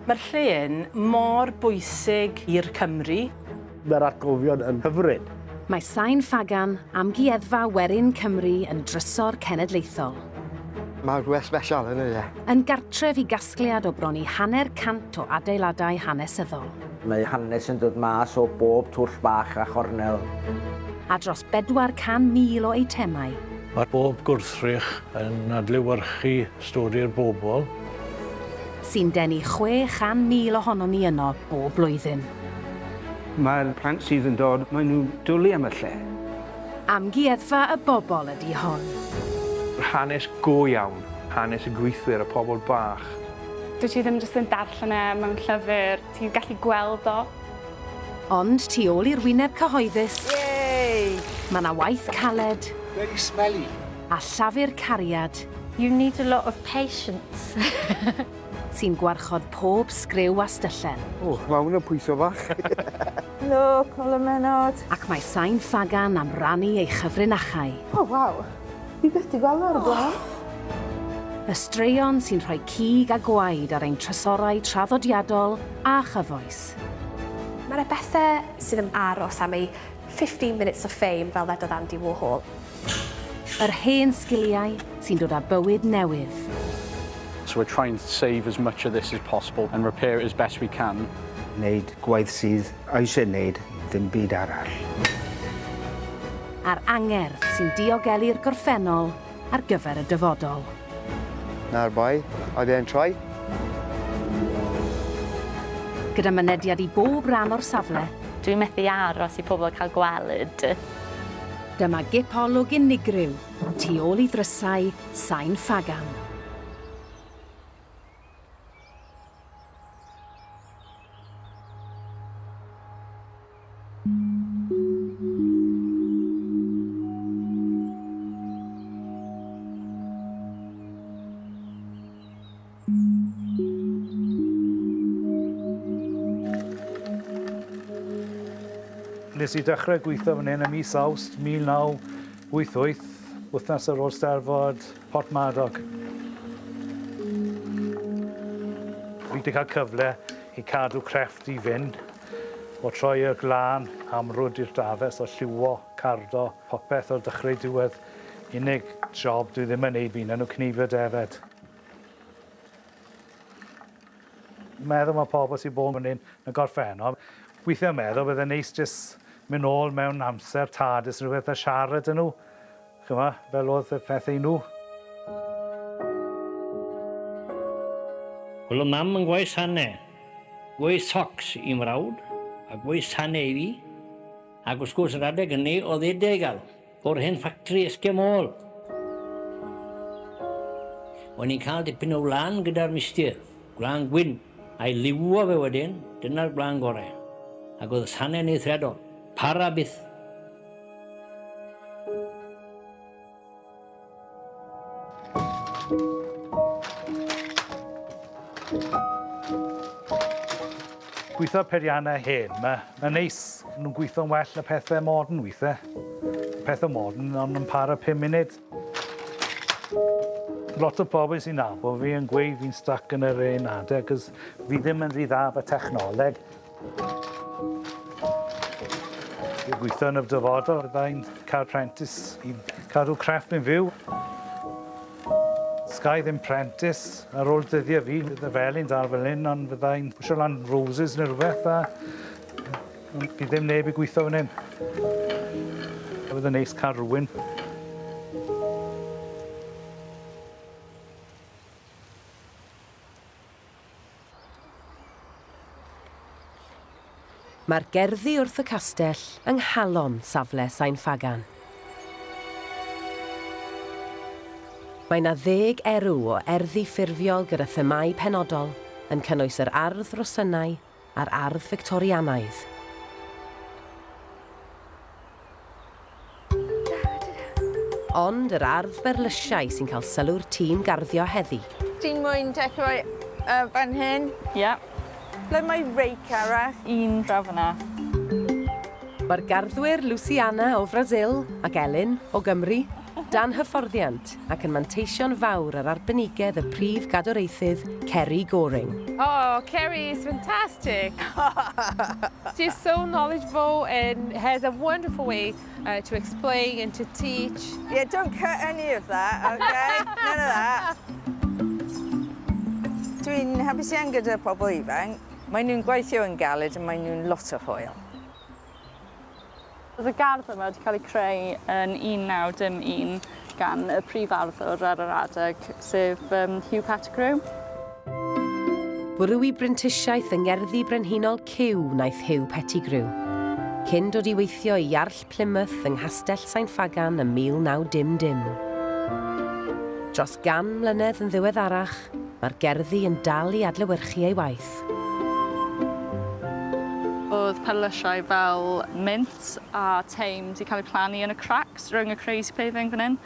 Mae'r lle yn mor bwysig i'r Cymry. Mae'r atgofion yn hyfryd. Mae Sain Ffagan, Amgueddfa Werin Cymru yn drysor cenedlaethol. Mae rhywbeth sbesial yn y lle. Yn gartref i gasgliad o bron i hanner cant o adeiladau hanesyddol. Mae hanes yn dod mas o bob twll bach a chornel. A dros 400,000 o eitemau. Mae pob gwrthrych yn adlewyrchu Stori i'r bobl. Sy'n denu 600,000 ohonon ni yno bob blwyddyn. Mae'r plant sydd yn dod, maen nhw'n dwlu am y lle. Amgueddfa y bobl ydy hon. Hanes go iawn, hanes y gweithwyr, y pobl bach. Dwyt ti ddim jyst yn darllen e mewn llyfr, ti'n gallu gweld o. Ond tu ôl i'r wyneb cyhoeddus, mae 'na waith caled. Very smelly! a llafur cariad. You need a lot of patience. Sy'n gwarchod pob sgriw a styllen. O, mae hwn yn pwyso bach. Helo, Col y Menot. Ac mae Sain Ffagan am rannu ei chyfrinachau. O, waw. Fi byth di gweld o ar y blaen. Oh! Y straeon sy'n rhoi cig a gwaed ar ein trysorau traddodiadol a chyfoes. Mae 'na bethe sydd yn aros am eu 15 minutes of fame fel ddedodd Andy Warhol. Yr hen sgiliau sy'n dod â bywyd newydd. So we're trying to save as much of this as possible and repair it as best we can. Wneud gwaith sydd eisiau wneud ddim byd arall. A'r angerdd sy'n diogelu'r gorffennol ar gyfer y dyfodol. Na'r bai, I then try. Gyda mynediad i bob ran o'r safle. Dwi methu aros i pobl cael gweld. Dyma gip olwg unigryw tu ôl i ddrysau sain ffagam. Nes i dechrau gweithio fan hyn ym mis Awst 1988, wythnos ar ôl Steddfod Porthmadog. Fi 'di cael cyfle i cadw crefft i fynd, o troi y glân amrwd i'r dafes, o lliwio, cardo, popeth o'r dechrau i diwedd. Unig job dwi ddim yn neud fi'n enw cneifio defaid. meddwl ma' pobol sy bod myn 'yn yn gorffennol withia meddwl bydd e'n neis jys myn nôl mewn amser tad jys rwbeth a siarad â nw ch'mo fel odd y pethe i nw. Wel o mam yn gwaith sane, gwaith socs i mrawd a gwaith sane i fi ac wrth gwrs yr adeg hynny o'dd e deugal. O'r hen ffactri esgio môl. O'n i'n cael dipyn o wlân gyda'r mistir, gwlân gwyn, a'i liwio fe wedyn, dyna'r gwlân gore. Ac oedd y sane'n eithriadol. Para byth. Gweithio periannau hen, mae'n neis. Nhw'n gweithio'n well na pethau modern weithiau. Pethau modern ond yn para 5 munud. Lot o bobl sy'n nabod fi yn gweud fi'n stuck yn yr un adeg, cos fi ddim yn rhy dda efo technoleg. Dwi'n gweithio yn y dyfodol byddai'n cael prentis i cadw crefft yn fyw. Sgai ddim prentis ar ôl dyddiau fi, bydd y felin dal fel hyn, ond byddai'n pwysio lan roses neu rhywbeth a bydd ddim neb i gweithio fan hyn. Bydd yn neis cael rhywun Mae'r gerddi wrth y castell yng nghalon safle Sain Ffagan. Mae 'na ddeg erw o erddi ffurfiol gyda themâu penodol, yn cynnwys yr ardd, rhosynnau, a'r ardd Fictorianaidd. Ond yr ardd berlysiau sy'n cael sylw'r tîm garddio heddi. Ti'n moyn dechrau yy fan hyn? Ie. Ble mae reic arall? Un draw fan'na. Mae'r garddwyr Luciana o Frasil ac Elin o Gymru dan hyfforddiant. ac yn manteision fawr ar arbenigedd y Prif Gadwraethydd, Ceri Goring. Oh, Ceri is fantastic! She's so knowledgeable and has a wonderful way uh, to explain and to teach. Yeah, don't cut any of that, okay? None of that. Dwi'n hapus iawn gyda pobl ifanc. Maen nhw'n gweithio yn galed a maen nhw'n lot o hwyl. Roedd y gardd yma wedi cael ei creu yn 1901 gan y prif arddwr ar yr adeg, sef Hugh Pettigrew. Bwrw i brentisiaeth yng Ngerddi Brenhinol Cyw wnaeth Hugh Pettigrew, cyn dod i weithio i Iarll Plymouth yng Nghastell Sain Ffagan ym 1910. Dros gan mlynedd yn ddiweddarach, mae'r gerddi yn dal i adlewyrchu ei waith. Ffraeth. Oedd perlysiau fel mint a teim 'di cael eu plannu yn y cracks rhwng y crazy paving fan hyn,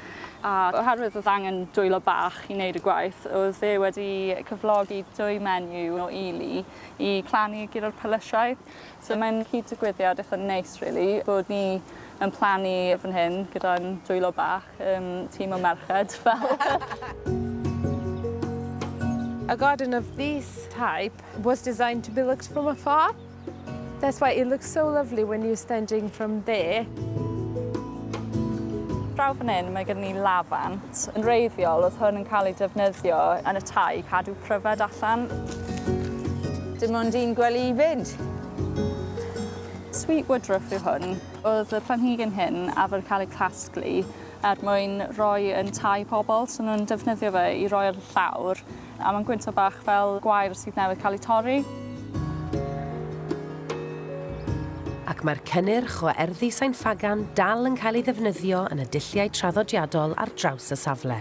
a oherwydd oedd angen dwylo bach i wneud y gwaith, oedd fe wedi cyflogi dwy menyw o ily i plannu ger y perlysiau. So mae'n cyd-digwyddiad eitha neis rili bod ni yn plannu fan hyn gyda'n dwylo bach, yym tîm o merched fel. A garden of this type was designed to be looked from afar. That's why it looks so lovely when you're standing from there. Draw fan hyn mae gen ni lafant. Yn wreiddiol oedd hwn yn cael ei defnyddio yn y tŷ i cadw pryfed allan. Dim ond un gwely i fynd. Sweet woodruff yw hwn. Oedd y planhigyn hyn arfer cael ei casglu er mwyn rhoi yn tai pobl, so nhw'n defnyddio fe i roi ar y llawr, a mae'n gwyntog bach fel gwair sydd newydd cael ei torri. Ac mae'r cynnyrch o erddi Sain Ffagan dal yn cael ei ddefnyddio yn y dulliau traddodiadol ar draws y safle.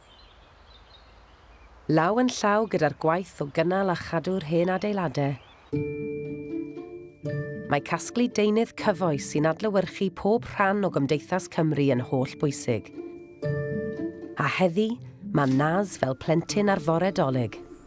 Law yn llaw gyda'r gwaith o gynnal a chadw'r hen adeiladau, mae casglu deunydd cyfoes sy'n adlewyrchu pob rhan o gymdeithas Cymru yn holl bwysig. A heddi, mae Naz fel plentyn ar fore Dolig.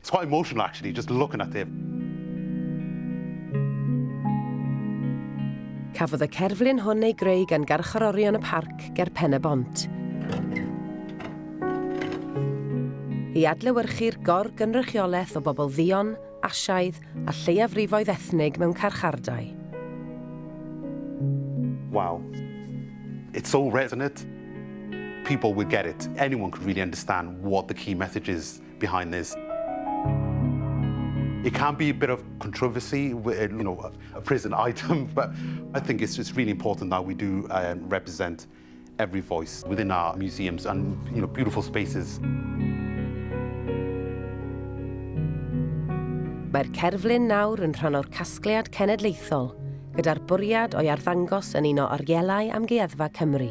It's quite emotional actually, just looking at him. Cafodd y cerflun hwn ei greu gan garcharorion y parc ger Pen y Bont. I adlewyrchu'r gor-gynrychiolaeth o bobl ddion, asiaidd a lleiafrifoedd ethnig mewn carchardai. Wow. It's so resonant. People would get it. Anyone could really understand what the key message is. behind this. It can be a bit of controversy, uh, you know, a prison item, but I think it's, it's really important that we do um, represent every voice within our museums and you know, beautiful spaces. Mae'r cerflun nawr yn rhan o'r casgliad cenedlaethol, gyda'r bwriad o'i arddangos yn un o orielau amgueddfa Cymru.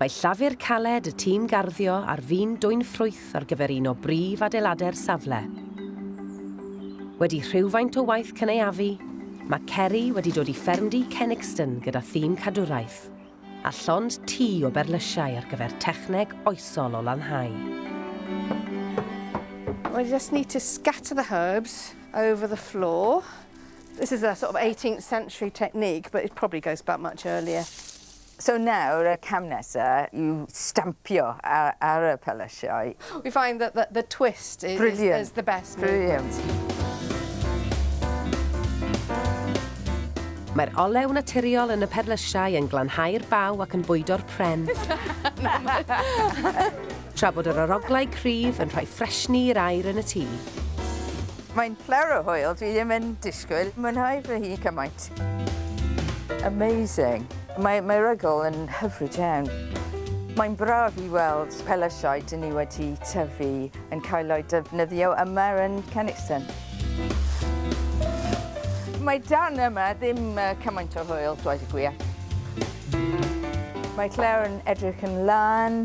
Mae llafur caled y tîm garddio ar fin dwyn ffrwyth ar gyfer un o brif adeiladau'r safle. Wedi rhywfaint o waith cynaeafu, mae Ceri wedi dod i ffermdy Cenixton gyda thîm cadwraeth, a llond tŷ o berlysiau ar gyfer techneg oesol o lanhau. Well, you just need to scatter the herbs over the floor. This is a sort of 18th century technique, but it probably goes back much earlier. So nawr y cam nesa yw stampio ar y pyllysiau. We find that the, the twist is, Brilliant. is the best Brilliant. Mae'r olew naturiol yn y perlysiau yn glanhau'r baw ac yn bwydo'r pren. Tra bod yr aroglau cryf yn rhoi ffresni i'r aer yn y tŷ. Mae'n ple'r o hwyl, dwi ddim yn disgwyl mwynhau fy hun cymaint. Amazing! Mae mae rygl yn hyfryd iawn. Mae'n braf i weld pellasiau dyn ni wedi tyfu yn cael eu defnyddio yma yn Canixton. Mae dan yma ddim cymaint o hwyl, dweud y gwir. Mae Claire yn edrych yn lân.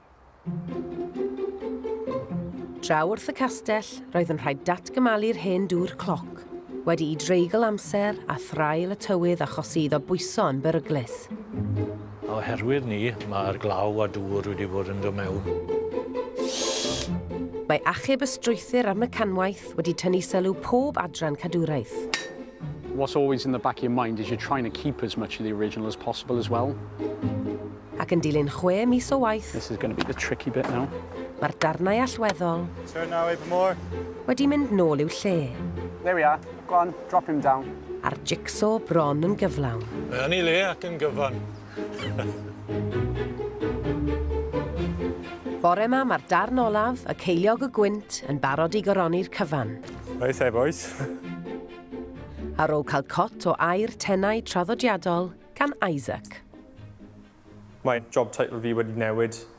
Draw wrth y castell, roedd yn rhaid datgymalu'r hen dŵr cloc, wedi i dreigl amser a thraul y tywydd achosi iddo bwyso yn beryglus. Oherwydd ni, mae'r glaw a dŵr wedi bod yn dod mewn. Mae achub y strwythur a'r mecanwaith wedi tynnu sylw pob adran cadwraeth. What's always in the back of your mind is you're trying to keep as much of the original as possible as well. Ac yn dilyn chwe mis o waith... This is going to be the tricky bit now. Mae'r darnau allweddol... Turn now, even more. ...wedi mynd nôl i'w lle. There we are. Go on, drop him down. A'r jigsaw bron yn gyflawn. Mae yn ei le ac yn gyfan. Bore ma mae'r darn olaf, y ceiliog y gwynt, yn barod i goroni'r cyfan. Oes e, boys? Ar ôl cael cot o air tenau traddodiadol gan Isaac. Mae job title fi wedi newid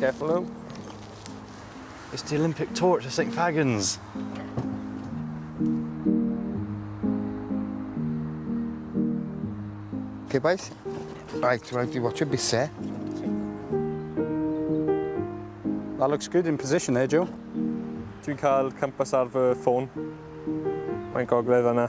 Careful now. It's the Olympic torch of St Fagans. Okay, boys. Right, well, you watch a bit, sir. That looks good in position there, Joe. Dwi'n cael campus ar fy ffôn. Mae'n gogledd yna.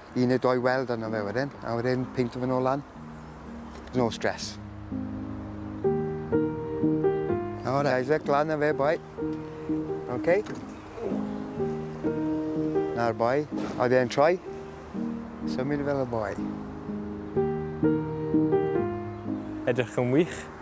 un neu doi weld arno fe wedyn, a wedyn peinto fe nôl lan. No stress. Nawr Isaac, lan na fe boi. OK. Na'r boi. Oedd e'n troi? Symud fel y boi. Edrych yn wych.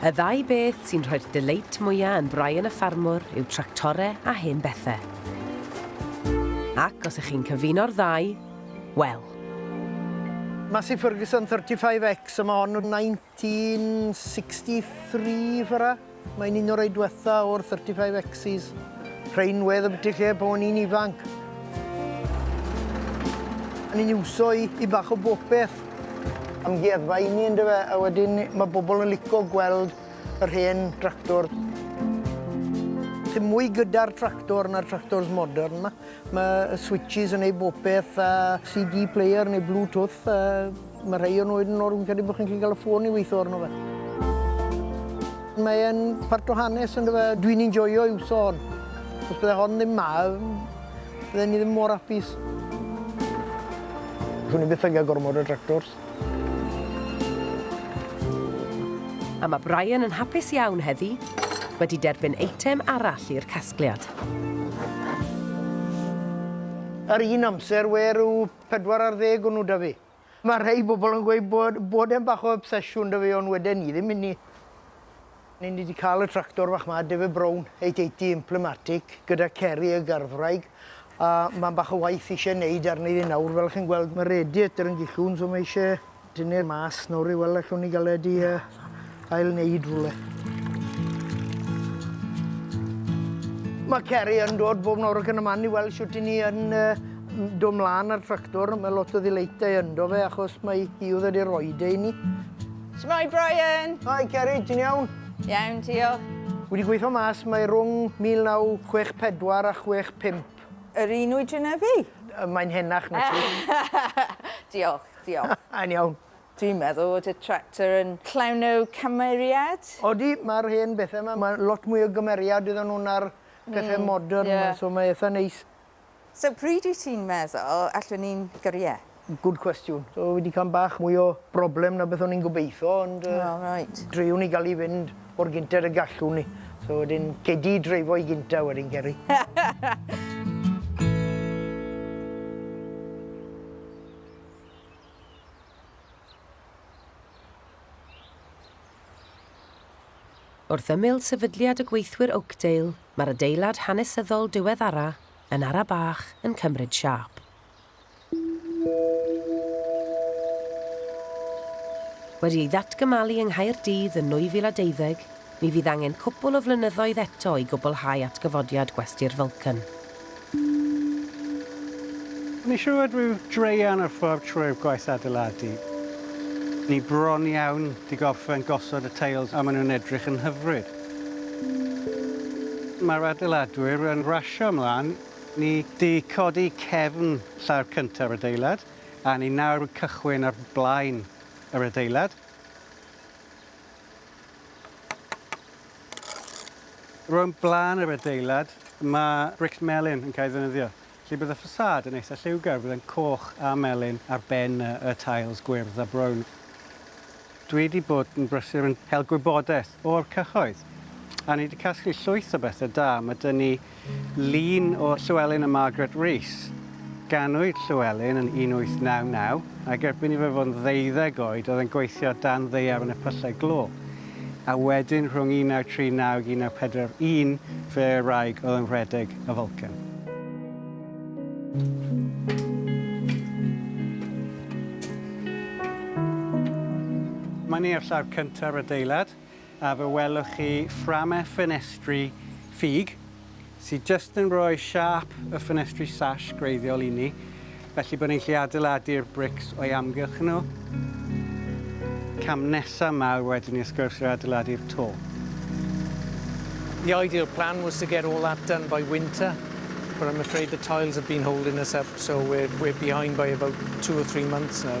Y ddau beth sy'n rhoi'r deleit mwyaf yn Brian y Ffarmwr yw tractore a hen bethau. Ac os ych chi'n cyfuno'r ddau, wel. Massey Ferguson 35X, a mae hon yn 1963 fara. Mae'n un o'r rei diwetha o'r 35Xs. Rhain wedd y byti lle pan o'n i'n ifanc. O'n i'n iwso i, i bach o bopeth. Amgueddfa i ni ynddo fe, a wedyn mae bobl yn lico gweld yr hen tractor. Dim mwy gyda'r tractor na'r tractors modern ma. Mae switches yn ei bopeth a CD player neu Bluetooth a Mae rhai o'n oed yn o'r fi'n credu bod chi'n gallu cael y ffôn i weithio arno fe. Mae e'n part o hanes yn dyfa. Dwi'n enjoyo i'w son. Os bydde hon ddim ma, bydde ni ddim mor apus. Swn i byth yn cael gormod o tractors. A mae Brian yn hapus iawn heddi, wedi derbyn eitem arall i'r casgliad. Ar un amser, we rhyw Pedwar ar ddeg o nhw 'da fi. Mae rhai bobl yn gweud bod bod e'n bach o obsesiwn 'da fi ond weden ni ddim inni. Ni ni 'di cael y tractor fach 'ma, David Brown eight eighty Implimatic gyda Ceri y garddwraig a mae'n bach o waith isie neud arni ddi nawr fel chi'n gweld ma' radiator yn gellwng so mae isie Dyne'r mas nawr i weld allwn ni gael e di uh, ail wneud rhywle. Mae Ceri yn dod bob nawr ac yn y man i weld sut i ni yn uh, dod mlaen ar tractor. Mae lot o ddileitau ynddo fe achos mae hi oedd wedi roi de i ni. Shmai Brian! Hi Ceri, ti'n iawn? Iawn, diolch. Wedi gweithio mas mae rhwng 1964 a 65. Yr un oedran a fi? Mae'n henach na ti. diolch. Diolch. Yn iawn. Dwi'n meddwl fod y tractor yn llawn o cymeriad. Odi, mae'r hen bethau yma, mae lot mwy o gymeriad iddyn nhw na'r pethau modern 'ma, so mae eitha neis. So pryd wyt ti'n meddwl allwn ni'n gyrru e? Good question. So fi 'di cael bach mwy o broblem na beth o'n i'n gobeithio ond yy... O reit. ...driwn ni gael i fynd mor gynted y gallwn ni. So wedyn gei di dreifo i gynta wedyn Ceri. Wrth ymyl sefydliad y gweithwyr Oakdale, mae'r adeilad hanesyddol diweddara yn ara bach yn cymryd siâp. Wedi ei ddatgymalu yng Nghaerdydd yn 2012, Mi fydd angen cwpwl o flynyddoedd eto i gwblhau atgyfodiad gwesty'r Vulcan. Mae'n siŵr fod rhyw draean ar ffordd trwy'r gwaith adeiladu. Ni bron iawn di gorffen gosod y teils a maen nhw'n edrych yn hyfryd. Mae'r adeiladwyr yn rasio ymlaen. Ni di codi cefn llawr cyntaf yr adeilad a ni nawr yn cychwyn ar blaen yr adeilad. Rownd blaen yr adeilad, mae brics melyn yn cael ei ddefnyddio, felly bydd y ffasâd yn eitha' lliwgar, bydd e'n coch a melyn ar ben y y tails gwyrdd a brown. Dwi 'di bod yn brysur yn cael gwybodaeth o'r cyhoedd, a ni 'di casglu llwyth o bethe da, ma' 'da ni Llun o Llewelyn a Margaret Rees. Ganwyd Llewelyn yn 1899, ac erbyn i fe fod yn ddeuddeg oed oedd e'n gweithio dan ddaear yn y pyllau glo. A wedyn rhwng 1939 ac 1941 fe a'i wraig oedd yn rhedeg y Vulcan. Mae'n iarllar cyntaf yr adeilad. A fe welwch chi fframau ffenestri ffug sydd jyst yn rhoi siâp y ffenestri sash gwreiddiol inni, felly bod ni'n gallu adeiladu'r brics o'i amgylch nhw. Cam nesaf ma yw wedyn ni wrth gwrs yw adeiladu'r to. The ideal plan was to get all that done by winter, but I'm afraid the tiles have been holding us up, so we're, we're behind by about two or three months now.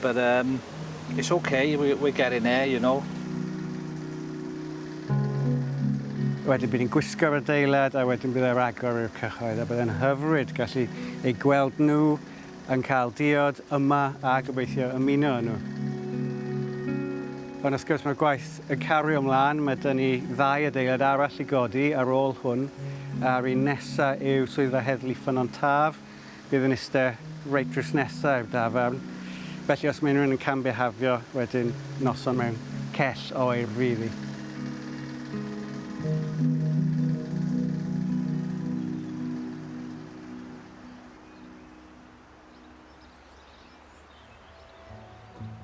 But um, it's ok, we're, we're getting there, you know. Wedyn bydd hi'n gwisgo'r adeilad a wedyn bydd e'r agor i'r cyhoedd a bydd e'n hyfryd gallu ei gweld nhw yn cael diod yma a gobeithio ymuno â nhw. Ond wrth gwrs mae'r gwaith yn cario ymlaen, mae dyn ni ddau adeilad arall i godi ar ôl hwn a'r un nesaf yw Swyddfa Heddlu Ffynnon Taf Bydd yn iste reit drws nesa i'r dafarn, felly os mae unrhywun yn cam-bihafio wedyn noson mewn cell o oer fydd hi.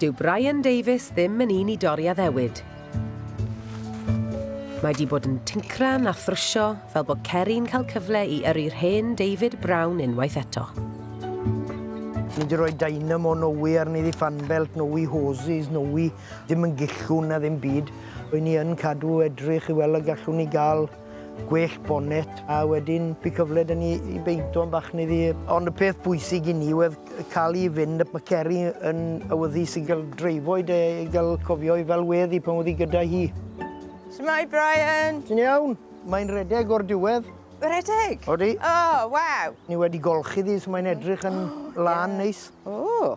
Dyw Brian Davies ddim yn un i dorri addewid. Mae di bod yn tincran a thrwsio fel bod Ceri'n cael cyfle i yrru'r hen David Brown unwaith eto. Ni di roi dynamo nowy arni ddi fanbelt nowy hoses nowy, ddim yn gillwn na ddim byd. Rwy ni yn cadw edrych i weld y gallwn ni gael. gwell bonet a wedyn by cyfle da ni i beinto yn bach neu ddi. Ond y peth bwysig i ni oedd cael i fynd, mae Ceri yn awyddus i gael dreifo'i de, i gael cofio i fel wedd i pan oedd hi gyda hi. Shwmae Brian! Ti'n iawn? Mae'n redeg o'r diwedd. Redeg? Odi. O, waw! Ni wedi golchi ddi so mae'n edrych yn lân neis. O!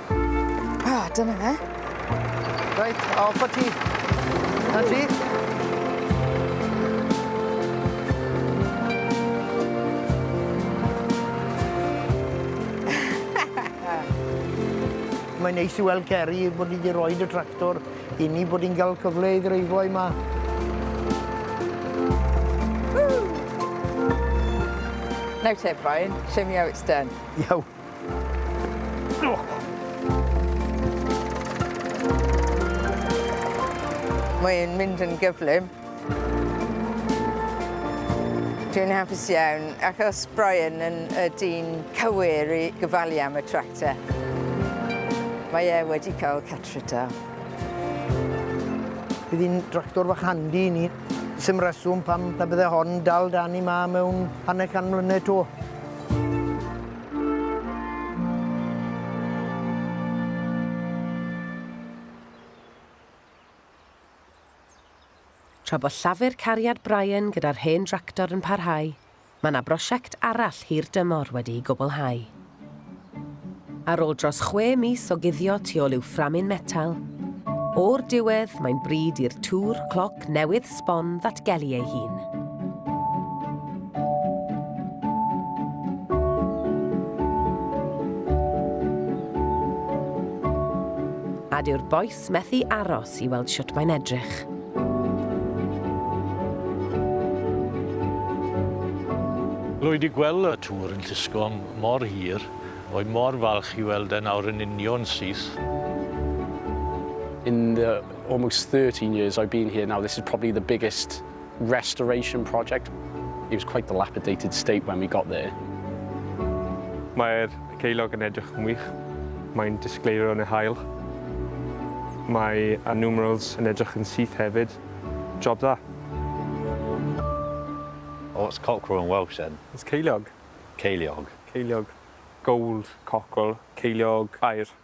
Ah, dyna fe. Reit, off o ti. Na ti. Mae'n neis i weld Geri bod ni wedi rhoi y tractor i ni bod ni'n cael cyfle i ddreifo yma. Now Tim, Brian, show me how it's done. Iawn. Mae'n mynd yn gyflym. Dwi'n hapus iawn, achos Brian yn y dyn cywir i gyfalu am y tractor. Mae e wedi cael cartrid da. Bydd hi'n dractor fach handi i ni. Sym reswm pam na bydde hon dal dan ni ma mewn hanner can mlynedd to. Tra bod llafur cariad Brian gyda'r hen dractor yn parhau, mae yna brosiect arall hir dymor wedi'i gwblhau. Ar ôl dros chwe mis o guddio tu ôl i'w fframyn metal, o'r diwedd mae'n bryd i'r tŵr clog Newydd sbon ddatgelu ei hun. A dyw'r bois methu aros i weld shwt mae'n edrych. Rwy wedi gweld y tŵr yn llusgo am mor hir, rwy mor falch i weld e nawr yn union syth. In the almost 13 years I've been here now, this is probably the biggest restoration project. It was quite dilapidated state when we got there. Mae'r ceilog yn edrych yn wych. Mae'n disgleirio yn y hael. Mae a numerals yn edrych yn syth hefyd. Job dda. Oh, what's cockerel in Welsh then? It's ceiliog. Ceiliog. Ceiliog. Gold cockerel, ceiliog aer.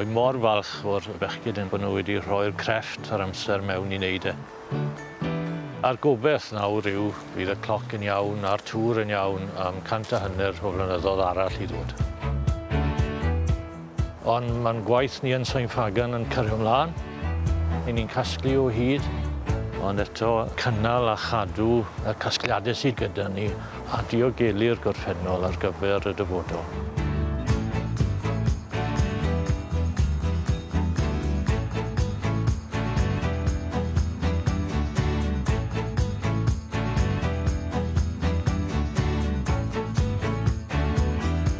Wy mor falch o'r bechgyn yn bod nhw wedi rhoi'r crefft a'r amser mewn i wneud e. A'r gobeth nawr yw bydd y cloc yn iawn a'r tŵr yn iawn am cant a hanner o flynyddodd arall i ddod. Ond mae'n gwaith ni yn Sain Ffagan yn cario ymlaen. Yn ni'n casglu o hyd. Ond eto, cynnal a chadw y casgliadau sydd gyda ni a diogelu'r gorffennol ar gyfer y dyfodol.